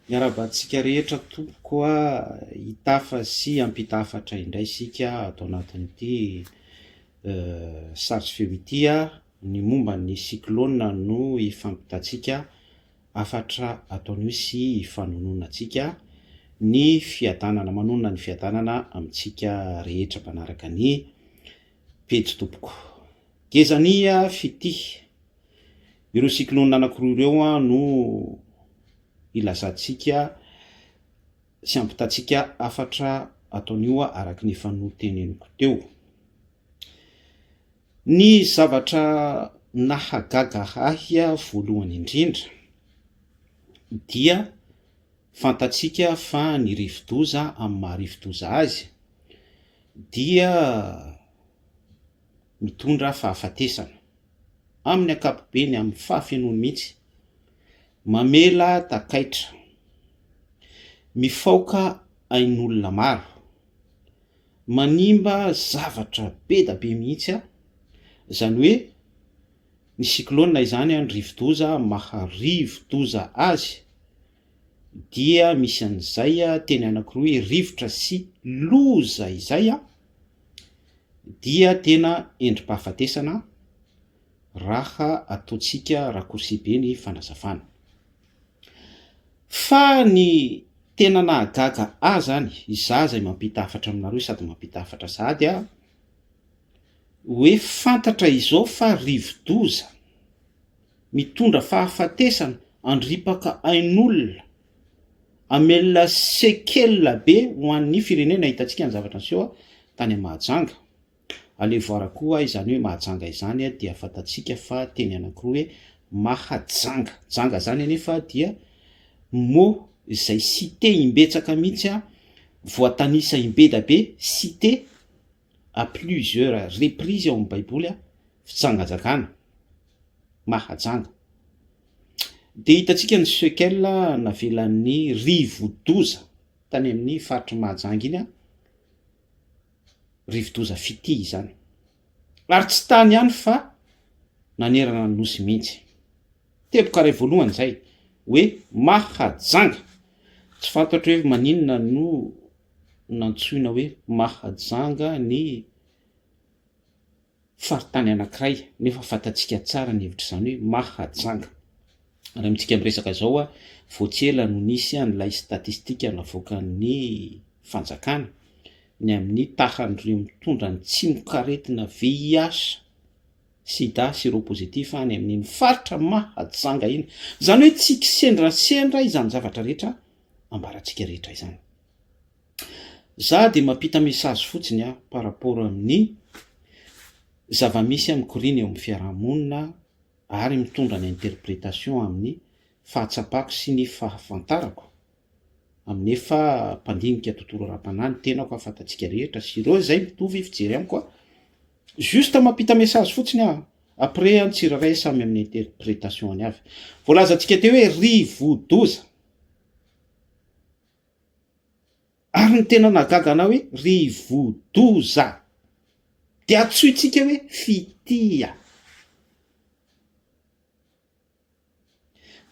Miarahaba antsika rehetra tompoko a, hitafa sy hampita hafatra indray isika ato anatin'ity sary sy feo ity a, ny momba ny cyclone no hifampitantsika hafatra ataony hoe sy hifanononantsika ny fiadanana, manonona ny fiadanana amintsika rehetra mpanaraka ny pejy tompoko. Gezania fitia. Ireo cyclone anankiroa ireo no ilazantsika sy ampitantsika hafatra ataon'io araka ny efa noteneniko teo. Ny zavatra nahagaga ahy voalohany indrindra dia fantatsika fa ny rivodoza amin'ny maha rivodoza azy dia mitondra fahafatesana. amin'ny ankapobeny amin'ny fahafenoany mihitsy, mamela takaitra, mifaoka ain'olona maro, manimba zavatra be dia be mihitsy, izany hoe ny cyclone izany ny rivodoza maha rivodoza azy. dia misy an'izay teny anankiroa hoe rivotra sy loza izay dia tena endri-pahafatesana raha ataontsika raccourci be ny fanazavana. Fa ny tena nahagaga ahy izany, izaho izay mampita hafatra aminareo sady mampita hafatra sahady aho, hoe fantatra izao fa rivo-doza Mitondra fahafatesana, andripaka ain'olona, hamelona sekela be ho an'ny firenena. Hitantsika ny zavatra niseho tany Mahajanga. Alevo Ara koa izany hoe Mahajanga izany dia fantantsika fa teny anankiroa hoe Mahajanga. Janga izany anefa dia mot izay cité imbetsaka mihitsy, voatanisa imbedabe, cité, à plusieurs reprises ao amin'ny baiboly fitsangajakana mahajanga dia hitantsika ny sekel navelan'ny rivodoza tany amin'ny faritry mahajanga iny rivodoza fitia izany ary tsy tany ihany fa nanerana ny nosy mihitsy teboka iray voalohany izay hoe mahajanga tsy fantatro hoe maninona no nantsoina hoe Mahajanga ny faritany anankiray nefa fantatsika tsara ny hevitr'izany hoe Mahajanga. Ary amintsika miresaka izao, vao tsy ela no nisy an'ilay statistika navoakan'ny fanjakana ny amin'ny tahan'ireo mitondra ny tsimokaretina VIH, sida, seropositif any amin'iny faritra Mahajanga iny. Izany hoe tsy kisendrasendra izany zavatra rehetra ambarantsika rehetra izany. Za dia mampita message fotsiny a par rapport amin'ny zava-misy mikoriana eo amin'ny fiarahamonina ary mitondra ny interprétation amin'ny fahatsapako sy ny fahafantarako amin'ny efa mpandinika tontolo ara-panahy ny tenako a fantatsika rehetra sy ireo izay mitovy fijery amiko a juste mampita message fotsiny a après an tsirairay samy amin'ny interprétation any avy voalazantsika teo hoe rivo-doza Ary ny tena nahagaga anah hoe ry vodoza de atsointsika hoe fitia.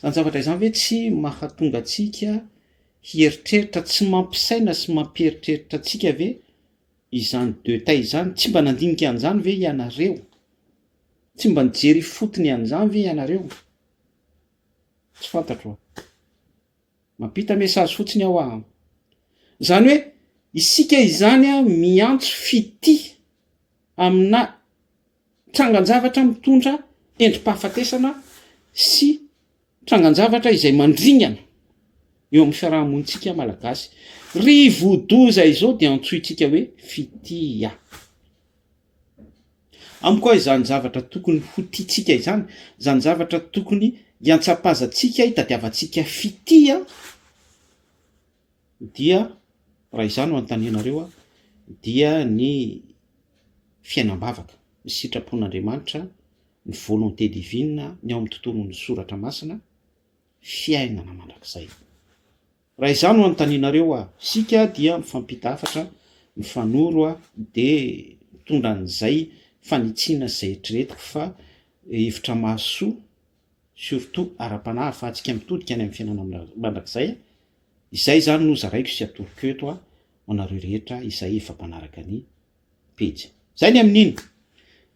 Zany zavatra izany ve tsy mahatonga antsika hieritreritra tsy mampisaina sy mampieritreritra antsika ve izany deux tay izany? Tsy mba nandinika an'izany ve ianareo? Tsy mba nijery ifotony an'izany ve ianareo? Tsy fantatro a. Mampita message fotsiny aho a. Zany hoe isika izany a miantso fitia amina trangan-javatra mitondra endri-pahafatesana sy trangan-javatra izay mandringana eo amin'ny fiaraha-monintsika malagasy. Ry vodoza izao dia antsointsika hoe fitia. Amiko aho izany zavatra tokony ho tiantsika izany, izany zavatra tokony hiantsapazantsika, hitadiavantsika fitia, dia raha izany no anontanianareo aho, dia ny fiainam-bavaka, ny sitrapon'Andriamanitra, ny volonté divine, ny ao amin'ny tontolon'ny soratra masina, fiainana mandrakizay. Raha izaho no anontanianareo a, isika dia mifampita hafatra, mifanoro a, dia mitondra an'izay fanitsiana sy izay eritreretiko fa hevitra mahasoa, surtout ara-panahy ahafahantsika mitodika any amin'ny fiainana mandrakizay, izay izany no zaraiko sy atoroko eto ho anareo rehetra izay efa mpanaraka ny pejy. Zay ny amin'iny.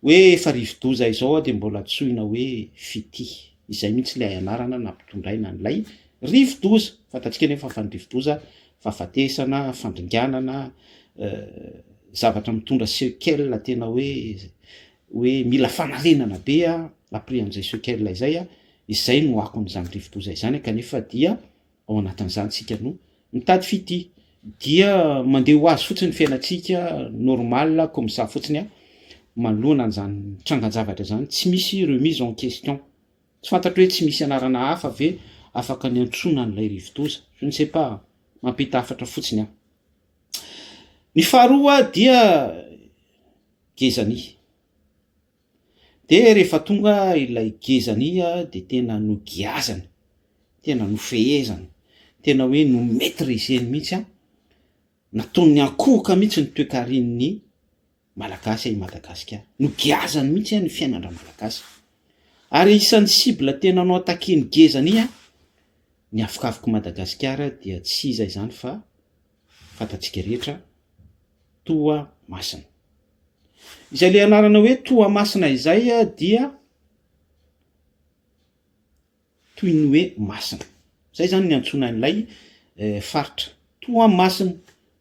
Hoe efa rivodoza izao dia mbola antsoina hoe fitia. Izay mihitsy ilay anarana nampitondraina an'ilay rivodoza. Fantatsika anefa fa ny rivodoza fahafatesana, fandringanana, zavatra mitondra sequelles tena hoe hoe mila fanarenana be après an'izay sequelles izay, izay no akon'izany rivodoza izany kanefa dia Ao anatin'izany isika no mitady fitia dia mandeha ho azy fotsiny ny fiainantsika normal comme ça fotsiny an, manoloana an'izany trangan-javatra izany tsy misy remise en question, tsy fantatro hoe tsy misy anarana hafa ve afaka niantsoana an'ilay rivodoza? je ne sais pas, mampita hafatra fotsiny aho. Ny faharoa dia Gezani. Dia rehefa tonga ilay gezany iha dia tena nogiazany, tena nofehezany, tena hoe no maitriseny mihitsy an, nataony ankohoka mihitsy ny toekaren'ny Malagasy i Madagasikara, nogiazany mihitsy an ny fiainan-dRamalagasy. Ary isan'ny cible tena no attaquer-ny gezany iha, ny afokafok'i Madagasikara dia tsy iza izany fa. fantatsika rehetra Toamasina. Izay ilay anarana hoe Toamasina izay dia toy ny hoe masina. Izay izany ny antsoina an'ilay eh, faritra. Toamasina,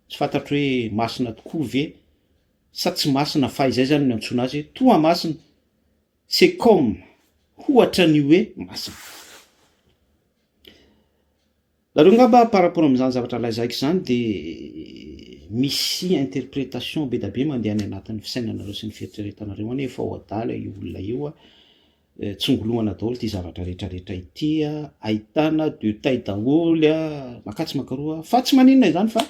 tsy fantatro hoe masina tokoa ve sa tsy masina fa izay izany ny antsoina azy hoe Toamasina. C'est comme, hoatra ny hoe masina. Nareo ngamba par rapport amin'izany zavatra lazaiko izany dia misy interprétation bedabe mandeha any anatin'ny fisainanareo sy ny fieritreretanareo any hoe efa ho adala io olona io a, tsongolohana daholo ity zavatra rehetra rehetra ity a, ahitana deux tailles daholo a, makà tsy maka roa, fa tsy maninona izany fa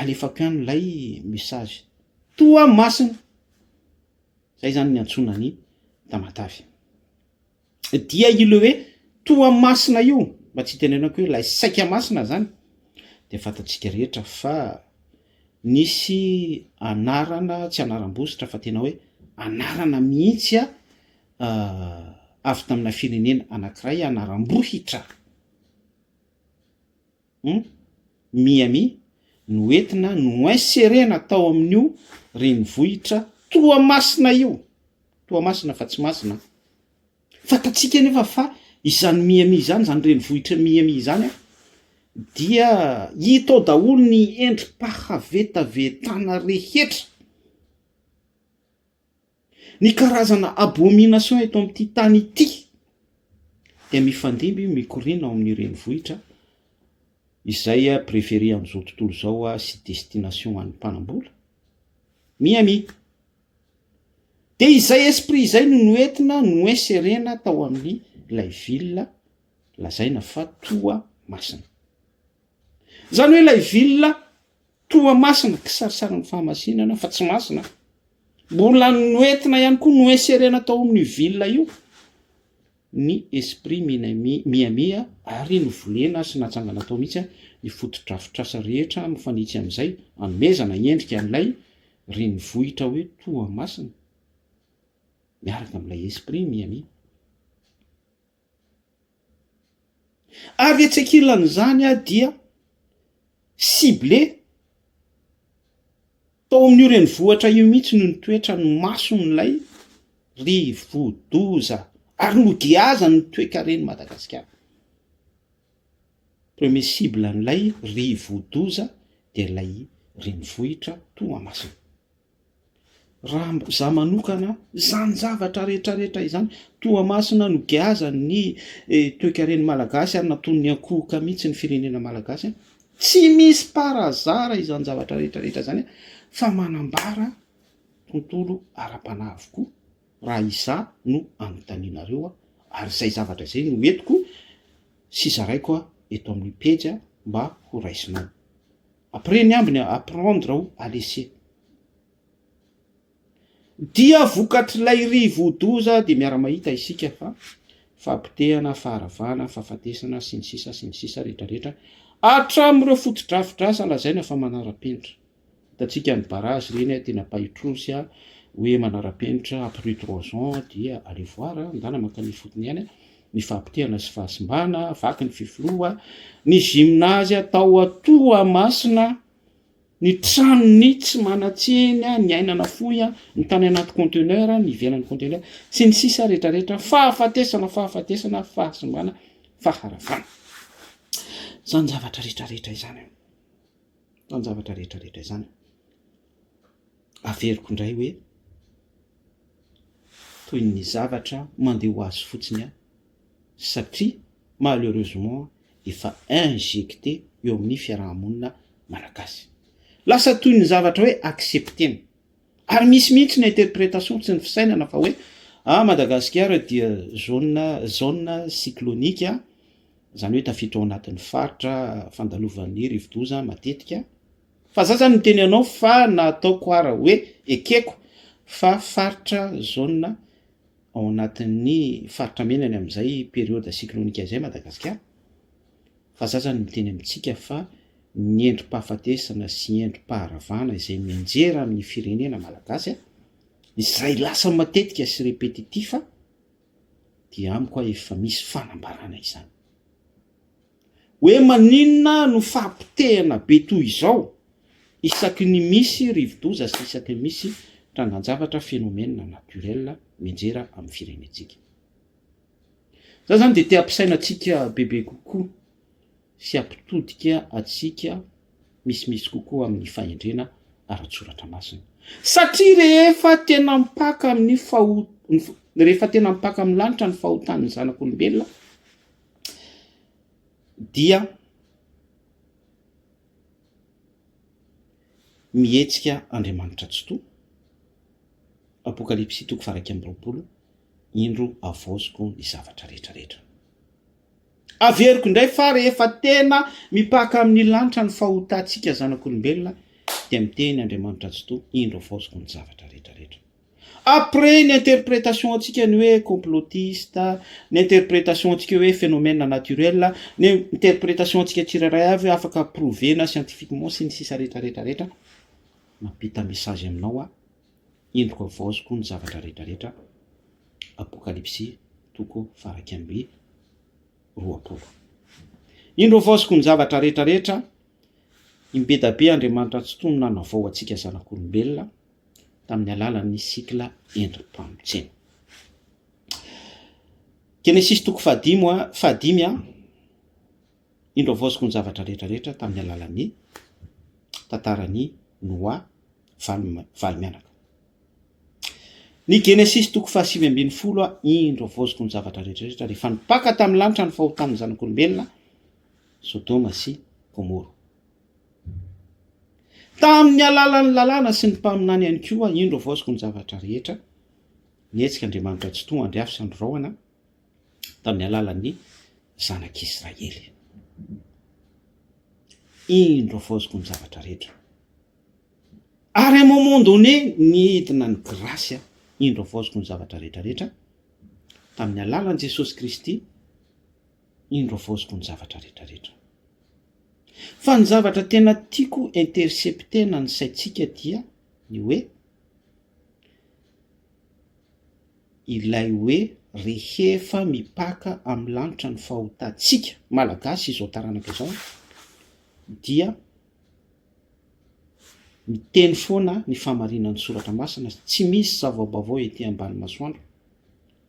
alefako ihany ilay message toamasina, izay izany ny iantsoana an'i Tamatave. dia ilay hoe Toamasina io, mba tsy hitenenako hoe ilay saika masina izany, dia fantatsika rehetra fa nisy anarana, tsy anaram-bositra fa tena hoe anarana mihitsy avy tamina firenena anankiray, anaram-bohitra. Hum Miami no entina noinserena tao amin'io renivohitra Toamasina io, Toamasina fa tsy Masina an! Fantatsika anefa fa izany Miami izany, izany renivohitra Miami izany an, dia hita ao daholo ny endri-pahavetavetana rehetra. Ny karazana abomination eto amin'ity tany ity dia mifandimby mikoriana ao amin'ny renivohitra izay préfère amin'izao tontolo izao sy destination ho an'ny mpanambola, Miami. Dia izay esprit izay no noentina noinserena tao amin'ny ilay ville lazaina fa toa masina. Izany hoe ilay ville Toa masina, kisarisarin'ny fahamasinana, fa tsy masina. Mbola noentina ihany koa, noinserena tao amin'io ville io ny esprit mihamia ary novolena sy natsangana tao mihitsy ny fotodrafitrasa rehetra mifanitsy amin'izay hanomezana endrika an'ilay renivohitra hoe Toamasina miaraka amin'ilay esprit mihamia. Ary etsy ankilan'izany dia ciblé tao amin'io renivohitra io mihitsy ny toetra ny mason'ilay rivodoza ary nogiazan'ny toekaren'i Madagasikara. Premier cible an'ilay rivodoza dia ilay renivohitra Toamasina. Raha izaho manokana, izany zavatra rehetrarehetra izany, Toamasina no giazan' ny toekaren'ny Malagasy ary natonin'ny ankohoka mihitsy ny firenena Malagasy, tsy misy parazara izany zavatra rehetrarehetra izany fa manambara tontolo ara-panahy avokoa raha izaho no anontanianareo ary izay zavatra izay no entiko sy zaraiko eto amin'ny pejy mba horaisinao. Après ny ambiny apprendre ou à laisser. Dia vokatr'ilay rivodoza dia miara-mahita isika fa fahapotehana, faharavana, fahafatesana, sy ny sisa sy ny sisa rehetrarehetra, hatramin'ireo fotodrafidrasa lazaina fa manara-penitra. Hitantsika ny barrage ireny tena pahitrosy hoe manara-penitra, après trois ans dia allez voir, andana mankany ifotony ihany. ny fahapoteana sy fahasimbana, vaky ny fifiloha, ny gymnase atao a Toamasina, ny tranony tsy manan-tsiny, ny ainana fohy a, ny tany anaty conteneur, ny ivelan'ny conteneur, sy ny sisa retraretra, fahafatesana, fahafatesana, fahasimbana, faharavana. Izany zavatra rehetra rehetra izany a, izany zavatra rehetra rehetra izany a, averiko indray hoe. toy ny zavatra mandeha ho azy fotsiny aho satria malheureusement efa injecter eo amin'ny fiaraha-monina malagasy. Lasa toy ny zavatra hoe accepter-na. Ary misy mihitsy ny interpretation sy ny fisainana fa hoe ah Madagasikara dia zone zone cyclonique izany hoe tafiditra ao anatin'ny faritra fandalovan'ny rivodoza matetika, Fa za zany niteny anao fa na ataoko ara hoe ekeko fa faritra zone ao anatin'ny faritra mena ny amin'izay période cyclonique izay Madagasikara fa za zany miteny amintsika fa ny endri-pahafatesana sy endri-paharavana izay mianjera amin'ny firenena malagasy izay lasa matetika sy répétitif dia amiko aho efa misy fanambarana izany. Hoe maninona no fahapotehana be toy izao isaky ny misy rivodoza sy isaky ny misy trangan-javatra, phénomène naturel, mianjera amin'ny firenentsika? Za izany dia te hampisaina antsika bebe kokoa sy hampitodika antsika misimisy kokoa amin'ny fahendrena ara-tsoratra masina. Satria rehefa tena mpaka amin'ny faho rehefa tena mpaka amin'ny lanitra ny fahotan'ny zanak'olombelona dia mihetsika Andriamanitra Tsitoha, Apokalypsy toko faha iraika amby roapolo, indro havaoziko ny zavatra rehetra rehetra. Averiko indray fa rehefa tena mipaka amin'ny lanitra ny fahotantsika zanak'olombelona dia miteny Andriamanitra Tsitoha, indro havaoziko ny zavatra rehetra rehetra. Après ny interpretation antsika ny hoe complotiste, ny interpretation antsika hoe phénomène naturel, ny interpretation antsika tsirairay avy hoe afaka prouver-na scientifiquement sy ny sisa rehetra rehetra rehetra, mampita message aminao aho, endriko havaoziko ny zavatra rehetra rehetra, Apokalypsy toko faha iraika amby roapolo. Indro havaoziko ny zavatra rehetra rehetra, imbedabe Andriamanitra Tsitoha no nanavao antsika zanak'olombelona, tamin'ny alalan'ny sikla endri-pamotsiana. Genesisy toko fahadimy a, fahadimy a, indro avaoziko ny zavatra rehetra rehetra tamin'ny alalan'ny tantaran'i Noa valo valo mianaka. Ny Genesisy toko fahasivy ambin'ny folo a, indro avaoziko ny zavatra rehetra rehetra rehefa nipaka tamin'ny lanitra ny fahotan'ny zanak'olombelona Sodoma sy Gomoro. Tamin'ny alalan'ny lalàna sy ny mpaminany ihany koa indro avaoziko ny zavatra rehetra, nihetsika Andriamanitra Tsitoha Andry Afy sy Andry Rahona tamin'ny alalan'ny zanak'Israely. Indro avaoziko ny zavatra rehetra. Ary un moment donné, nidina ny grasy an, indro avaoziko ny zavatra rehetra rehetra, tamin'ny alalan'i Jesosy Kristy, Indro avaoziko ny zavatra rehetra rehetra. Fa ny zavatra tena tiako interceptena ny saintsika dia ny hoe ilay hoe rehefa mipaka amin'ny lanitra ny fahotantsika malagasy izao taranaka izao dia Miteny foana ny fahamarinan'ny soratra masina, tsy misy zava-baovao ety ambany masoandro,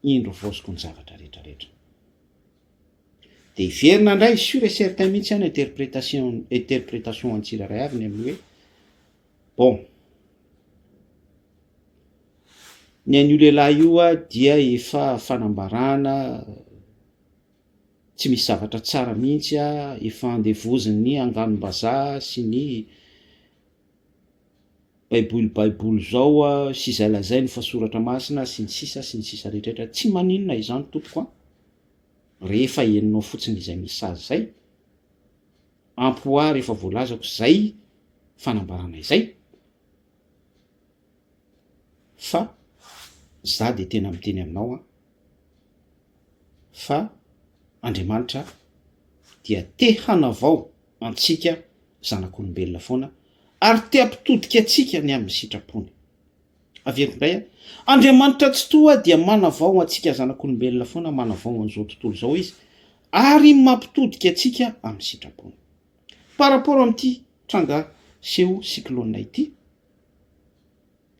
indro voaozoko ny zavatra rehetra rehetra. Dia hiverina indray sur et certain mihitsy any interprétation interprétation an'ny tsirairay avy ny amin'ny hoe bon ny an'io lehilahy io dia efa fanambarana Tsy misy zavatra tsara mihitsy a, efa andevozin'ny anganom-bazaha sy ny baiboly baiboly zao a, sy izay lazainy fa soratra masina sy ny sisa sy ny sisa rehetraretra, tsy maninona izany tompoko a, rehefa henonao fotsiny izay message zay, ampy ho ahy rehefa voalazako zay fanambarana izay. Fa za dia tena miteny aminao an, fa Andriamanitra dia te hanavao antsika zanak'olombelona foana ary te hampitodika antsika ny amin'ny sitrapony. Averiko indray an, Andriamanitra tsitoha dia manavao antsika zanak'olombelona foana, manavao an'izao tontolo izao izy ary mampitodika antsika amin'ny sitrapony. Par rapport amin'ity tranga seho cyclone ity,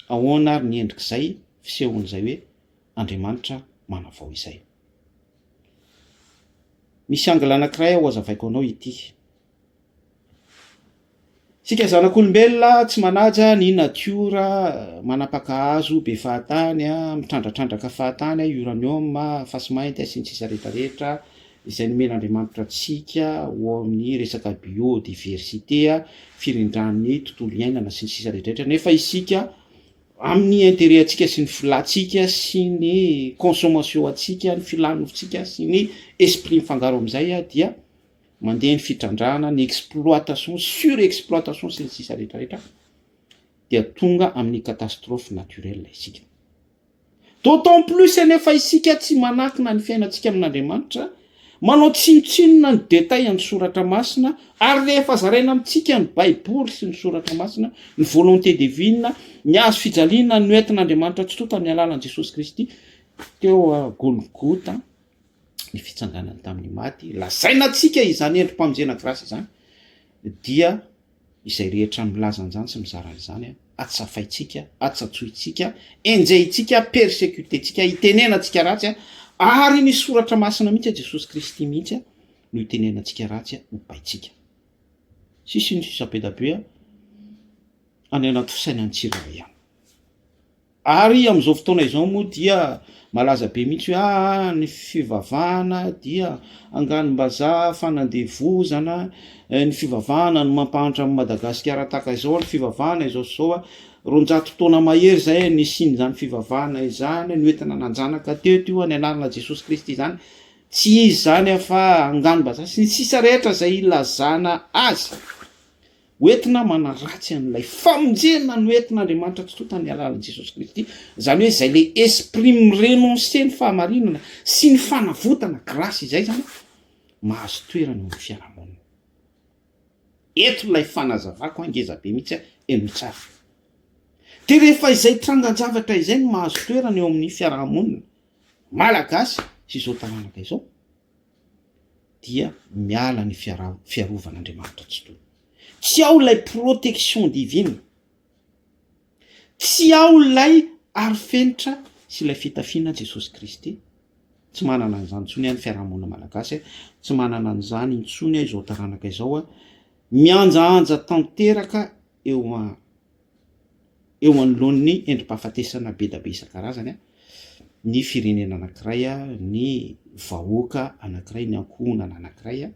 Ahoana ary ny endrik'izay fisehoan'izay hoe Andriamanitra manavao izay? Misy angle anankiray aho hohazavaiko anao ity. Isika zanak'olombelona tsy manaja ny natiora, manapaka hazo be fahatany, mitrandratrandranka fahatany, uranium, fasimainty, sy ny sisa rehetra rehetra, izay nomen'Andriamanitra antsika ho ao amin'ny resaka biodiversite, firindran'ny tontolo iainana sy ny sisa rehetrarehetra nefa isika amin'ny intérêt antsika sy ny filantsika sy ny consommation antsika ny filan'ny nofontsika sy ny esprit mifangaro amin'izay dia mandeha ny fitrandrahana ny exploitation sur exploitation sy ny sisa rehetrarehetra dia tonga amin'ny catastrophe naturelle isika. D'autant plus anefa isika tsy manakina ny fiainantsika amin'Andriamanitra, manao tsinontsinona ny détails an'ny soratra masina, ary rehefa zaraina amintsika ny baiboly sy ny soratra masina, ny volonté divine, ny hazo fijaliana noentin'Andriamanitra tsy tonta amin'ny alalan'i Jesosy Kristy teo Golgota, ny fitsanganany tamin'ny maty, lazaina antsika izany endri-pamonjena grâce izany dia. izay rehetra milaza an'izany sy mizara an'izany a, atsafaintsika, atsatsointsika, enjehintsika, persecuter-tsika, itenenantsika ratsy a, ary ny soratra masina mihitsy a, Jesosy Kristy mihitsy a, no itenenantsika ratsy a, ho baintsika. Sy sy ny sisa be da be a, any anaty fisainan'ny tsirairay any. Ary amin'izao fotoana izao moa dia malaza be mihitsy hoe aa ah, ny fivavahana dia anganom-bazaha, fanandevozana, eh, ny fivavahana no mampahantra amin'i Madagasikara tahaka izao, ny fivavahana izao sy izao, roanjato taona mahery izay nisian'izany fivavahana izany, no entina nanjanaka teto io, ny anarana Jesosy Kristy izany, tsy izy izany afa-, anganom-bazaha, sy ny sisa rehetra izay ilazana azy. Hoentina manaratsy an'ilay famonjena noentin'Andriamanitra totoa tamin'ny alalan'i Jesosy Kristy, izany hoe izay ilay esprit mi-renoncer ny fahamarinana sy ny fanavotana, grâce, izay izany mahazo toerana eo amin'ny fiarahamonina. Eto ilay fanazavako ngeza be mihitsy, henoy tsara. Dia rehefa izay trangan-javatra izay no mahazo toerana eo amin'ny fiarahamonina malagasy sy izao taranaka izao, dia miala ny fiarovan'Andriamanitra tsy tony. Tsy ao ilay protection divine, tsy ao ilay arofenitra sy ilay fitafiana Jesosy Kristy, tsy manana an'izany intsony aho ny fiarahamonina malagasy, tsy manana an'izany intsony aho izao taranaka izao, mihanjahanja tanteraka eo an-. eo anoloan'ny endri-pahafatesana be dia be isan-karazany ny firenena anankiray, ny vahoaka anankiray, ny ankohonana anankiray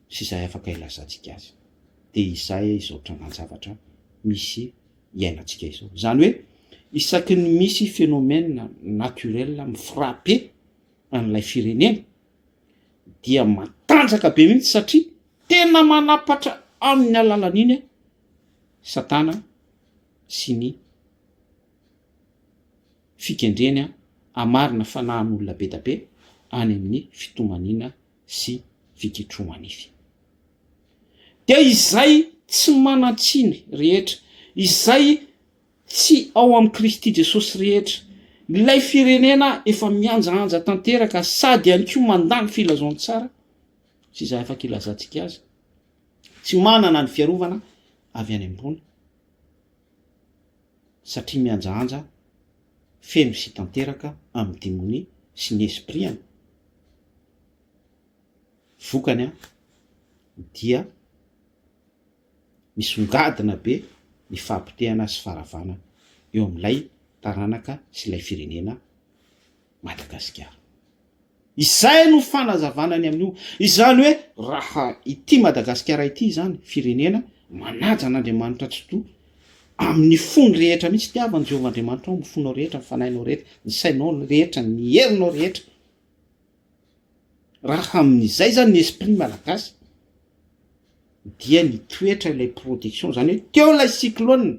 sy izay afaka ilazantsika azy dia izay izao trangan-javatra misy iainantsika izao, izany hoe isaky ny misy phénomène naturel mi-frapper an'ilay firenena dia matanjaka be mihitsy satria tena manapatra amin'ny alalan'iny an satana sy ny fikendreny an amarina fanahan'olona be da be any amin'ny fitomaniana sy fiketromanify dia izay tsy manantsiny rehetra izay Tsy ao amin'i Kristy Jesosy rehetra. Ilay firenena efa mihanjahanja tanteraka sady ihany koa mandà ny filazantsara sy izay afaka ilazantsika azy. Tsy manana ny fiarovana avy any ambony satria mihanjahanja feno sy tanteraka amin'ny demonia sy ny espriany. Vokany dia Misongadina be ny fahapotehana sy faharavana eo amin'ilay taranaka sy ilay firenena Madagasikara. Izay no fanazavana ny amin'io. Izany hoe raha ity Madagasikara ity izany, firenena manaja an'Andriamanitra Tsitoha, amin'ny fony rehetra mihitsy, tiavan'i Jehovah Andriamanitrao amin'ny fonao rehetra, ny fanahinao rehetra, ny sainao rehetra, ny herinao rehetra, Raha amin'izay zany ny esprit malagasy dia nitoetra ilay production, zany hoe teo ilay cyclone,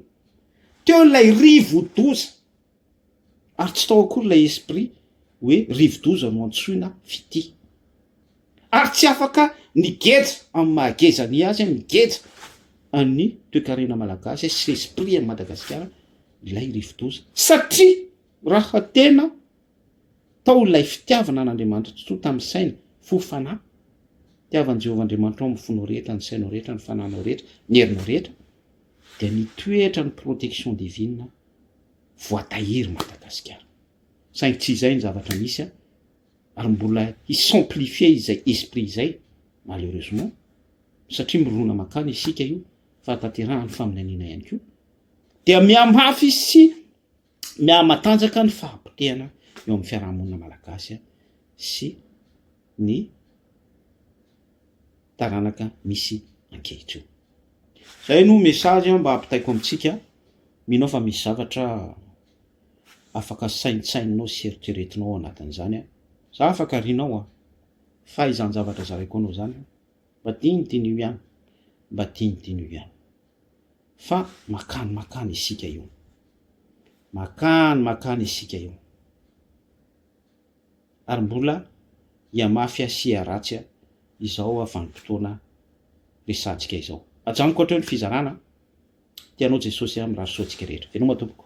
teo ilay rivodoza ary tsy tao akory ilay esprit hoe rivodoza no antsoina fitia. Ary tsy afaka nigeja amin'ny maha geja ny azy, nigeja an'ny toekarena malagasy sy esprit an'i Madagasikara ilay rivodoza satria raha tena Tao ilay fitiavana an'Andriamanitra totoa tamin'ny saina, fo, fanahy. Tiavan'i Jehovah Andriamanitrao amin'ny fonao rehetra, ny sainao rehetra, ny fanahinao rehetra, ny herinao rehetra, dia nitoetra ny protection divine voatahiry Madagasikara. Saingy tsy izay ny zavatra misy ary mbola hi-s'amplifier izay esprit izay malheureusement satria mirona mankany isika io fahatanterahan'ny faminaniana ihany koa dia mihamafy sy mihamatanjaka ny fahapotehana eo amin'ny fiarahamonina malagasy sy ny taranaka misy ankehitriny. Zay no message mba ampitaiko amintsika, mino aho fa misy zavatra afaka saintsaininao sy eritreretinao ao anatin'izany an! Za afaka rinao an! Fahaizan-javatra zaraiko anao zany an! Mba dinidino io ihany, mba dinidino io ihany fa makany makany isika io, makany makany isika io ary mbola hihamafy sy hiharatsy izao vanim-potoana resahantsika izao. Ajanoko hatreo ny fizarana, tianao Jesosy aho, mirary soa antsika rehetra. Veloma tompoko.